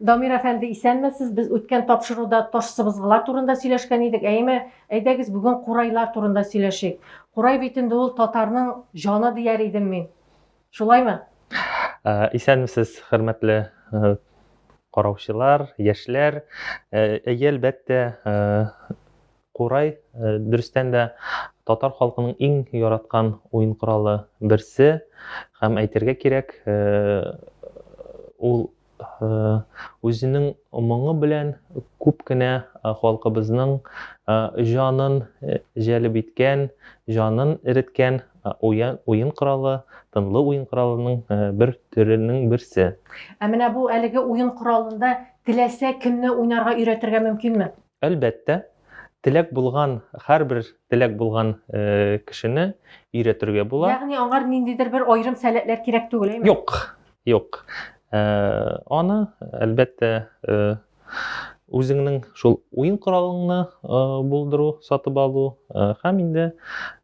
Дамир әфәнде, исәнмесез. Без үткән тапшыруда таш сыбызгылар турында сөйләшкән идек. Әйме, әйдәгез бүген курайлар турында сөйләшик. Курай бит инде ул татарның җаны дияр идем мин. Шулаймы? Ә, исәнмесез, хөрмәтле ә, караучылар, яшьләр. Ә, әлбәттә, ә, Курай, дөрестән дә, татар халкының иң яраткан уен коралы берсе. Һәм әйтергә кирәк, ул үзенең моңы белән күп кенә халкыбызның җанын җәлеп иткән, җанын эреткән уен коралы, тынлы уен коралының бер төренең берсе. Ә менә бу әлеге уен коралында теләсә кемне уйнарга өйрәтергә мөмкинме? Әлбәттә, теләк булган, һәрбер теләк булган кешене өйрәтергә була. Ягъни аңар ниндидер бер аерым сәләтләр кирәк түгел, әйме? Юк, юк. Аны, әлбәттә, үзеңнең шул уен коралыңны булдыру, сатып алу һәм инде,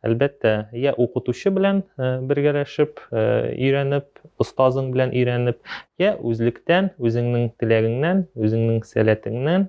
әлбәттә, я укытучы белән бергәләшеп, өйрәнеп, остазың белән өйрәнеп, я үзлектән, үзеңнең теләгеңнән, үзеңнең сәләтеңнән,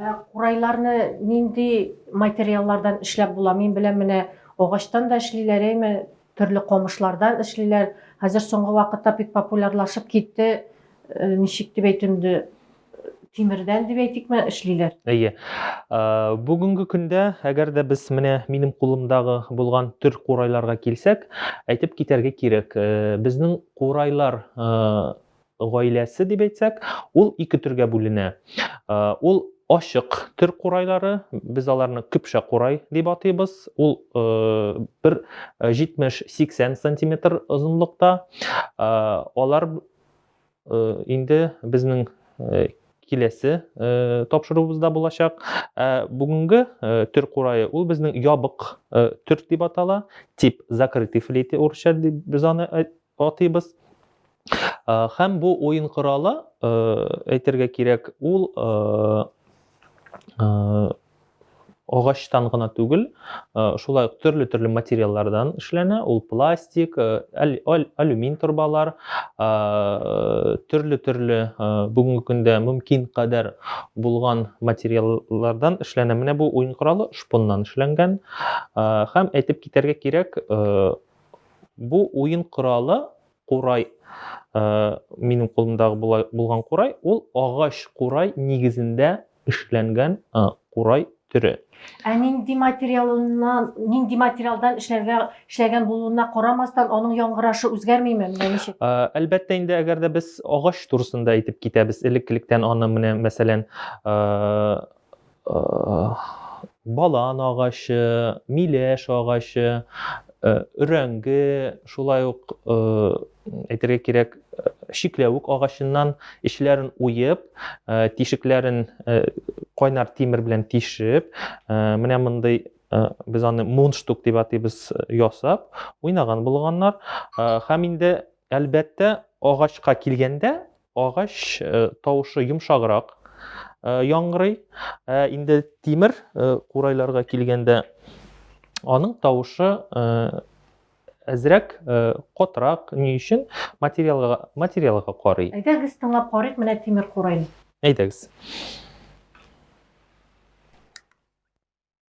Ә курайларны нинди материаллардан эшләп була? Мин беләм менә агачтан да эшлиләр, әйме, төрле камышлардан эшлиләр. Хәзер соңгы вакытта бик популярлашып китте. Э, ничек дип әйтим инде, тимердән дип әйтикме, эшлиләр. Әйе. Э, бүгенге көндә, әгәр дә без менә минем кулымдагы булган төр курайларга килсәк, әйтеп китәргә кирәк, э, безнең курайлар Гаиләсе дип әйтсәк, ул ике төргә бүленә. Ул ачык төр курайлары, без аларны көпшә курай дип атыйбыз. Ул бер 70-80 сантиметр озынлыкта. Алар инде безнең киләсе тапшыруыбызда булачак. Бүгенге төр курае ул безнең ябык төр дип атала, тип закрытый флейты урысча дип без аны атыйбыз. Һәм бу уен коралы, әйтергә кирәк, ул агачтан гына түгел, шулай ук төрле-төрле материаллардан эшләнә. Ул пластик, алюмин торбалар, төрле-төрле бүгенге көндә мөмкин кадәр булган материаллардан эшләнә. Менә бу уен коралы шпоннан эшләнгән. Һәм әйтеп китәргә кирәк, Бу уен коралы курай, минем кулымдагы булган курай, ул агач курай нигезендә эшләнгән курай төре. Ә нинди материалыннан, нинди материалдан эшләргә эшләгән булуына карамастан, аның яңгырашы үзгәрмиме? Менә ничек? Әлбәттә инде, әгәр дә без агач турысында әйтеп китәбез, элеккелектән аны менә мәсәлән, балан агачы, миләш агачы, өрәңге, шулай ук әйтергә кирәк, чикләвек агачыннан эчләрен уеп, тишекләрен кайнар тимер белән тишеп, менә мондый без аны мунштук дип атыйбыз ясап, уйнаган булганнар. Һәм инде әлбәттә агачка килгәндә, Агач тавышы йомшаграк яңгырый. Ә инде тимер курайларга килгәндә, аның тавышы әзрәк э, котрак ни өчен материалга материалга карый әйдәгез тыңлап карыйк менә тимер курай әйдәгез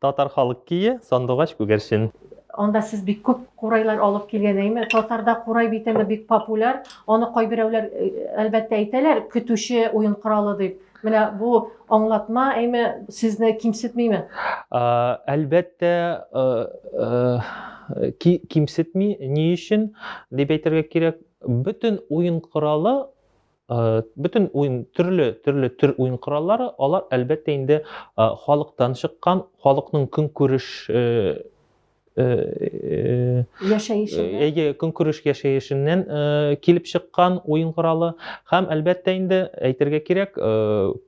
Татар халык кие, сандугач күгәрчен. Анда сез бик күп курайлар алып килгән әйме? Татарда курай бит инде бик популяр. Аны кайберәүләр э, әлбәттә әйтәләр, көтүче уен коралы дип. Менә бу аңлатма әйме сезне кимсетмиме? Әлбәттә, э, э, кимсетми. Ни өчен дип әйтергә кирәк, бөтен уен коралы Э, бөтен уен төрле төрле төр уен кораллары алар әлбәттә инде э, халыктан чыккан халыкның көнкүреш э, яшәешеннән көнкүреш яшәешеннән килеп чыккан уен коралы һәм әлбәттә инде әйтергә кирәк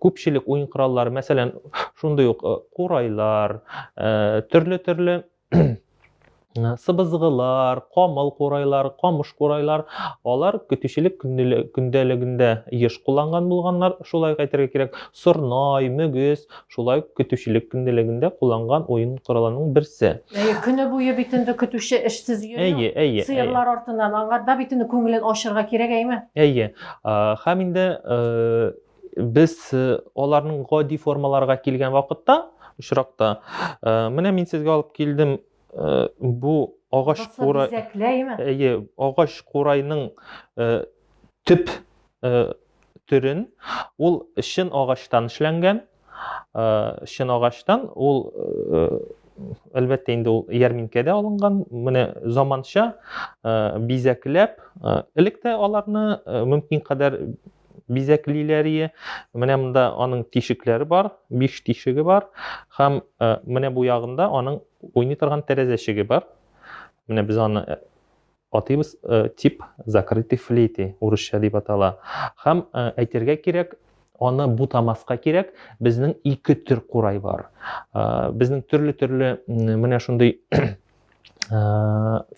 күпчелек уен кораллары мәсәлән шундый ук курайлар төрле төрле сыбызгылар, камыл курайлар, камыш курайлар, алар көтүчелек көндәлегендә еш кулланган булганнар, шулай әйтергә кирәк. Сорнай, мөгез, шулай көтүчелек көндәлегендә кулланган уен коралының берсе. Әйе, көне буе бит инде көтүче эшсез йөри. Әйе, әйе. Сыерлар артыннан аңарда бит инде күңелен ачырга кирәк, әйме? Әйе. Һәм инде э, Без аларның гади формаларга килгән вакытта, очракта, менә мин сезгә алып килдем бу агач курай. Әйе, агач курайның төп төрен ул чын агачтан эшләнгән чын агачтан ул әлбәттә инде ул ярминкәдә алынган менә заманча бизәкләп элек тә аларны мөмкин кадәр бизәклиләрие. Менә монда аның тишекләре бар, биш тишеге бар. Хәм э, менә бу ягында аның уйный торган тәрәзәчеге бар. Менә без аны э, атыйбыз э, тип закрытый флейты, урысча дип атала. Хәм әйтергә кирәк, аны бутамаска кирәк, безнең ике төр курай бар. Безнең төрле-төрле менә шундый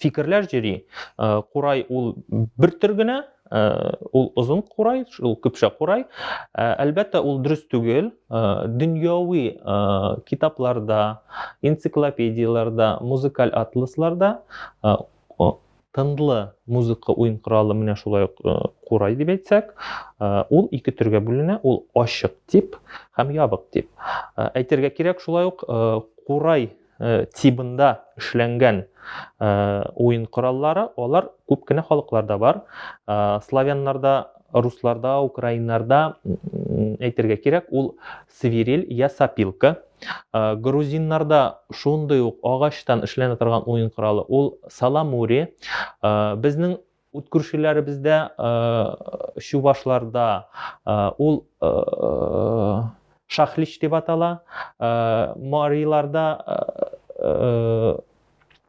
фикерләр җөри. Курай ул бер төр генә, ул озын курай, ул көпшә курай. Әлбәттә, ул дөрес түгел. Дөньяви китапларда, энциклопедияләрдә, музыкаль атласларда тынлы музыка уен коралы менә шулай ук курай дип әйтсәк, ул ике төргә бүленә, ул ачык тип һәм ябык тип. Әйтергә кирәк шулай ук курай Э, тибында эшләнгән э, уен кораллары алар күп кенә халыкларда бар э, славяннарда русларда украиннарда әйтергә кирәк ул свирель я сапилка грузиннарда шундый ук агачтан эшләнә торган уен коралы ул саламури безнең Ут күршеләребездә чувашларда ул шахлич дип атала, мариларда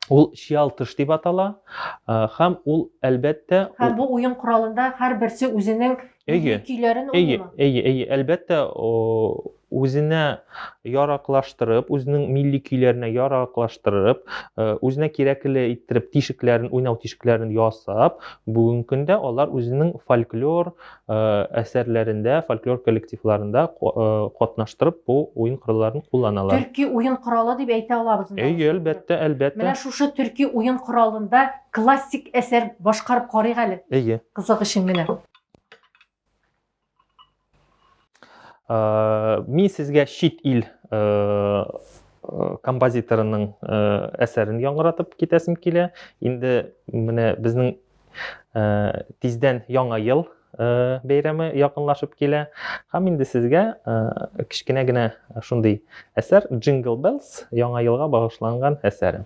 ул чиалтыш дип атала һәм ул әлбәттә һәм бу уен коралында һәрберсе үзенең көйләрен уйныймы? Әйе, әйе, әйе, әлбәттә үзенә яраклаштырып, үзенең милли көйләренә яраклаштырып, э, үзенә кирәкле иттереп тишекләрен, уйнау тишекләрен ясап, бүгенге көндә алар үзенең фольклор э, әсәрләрендә, фольклор коллективларында э, катнаштырып бу уен коралларын кулланалар. Төрки уен коралы дип әйтә алабыз. Әйе, әлбәттә, әлбәттә. Менә шушы төрки уен коралында классик әсәр башкарып карыйк әле. Әйе. Кызык өчен генә. Э, мин сезгә чит ил э, э, композиторының әсәрен яңгыратып китәсем килә. Инде менә безнең тиздән яңа ел бәйрәме якынлашып килә. Һәм инде сезгә кечкенә генә шундый әсәр Jingle Bells яңа елга багышланган әсәре.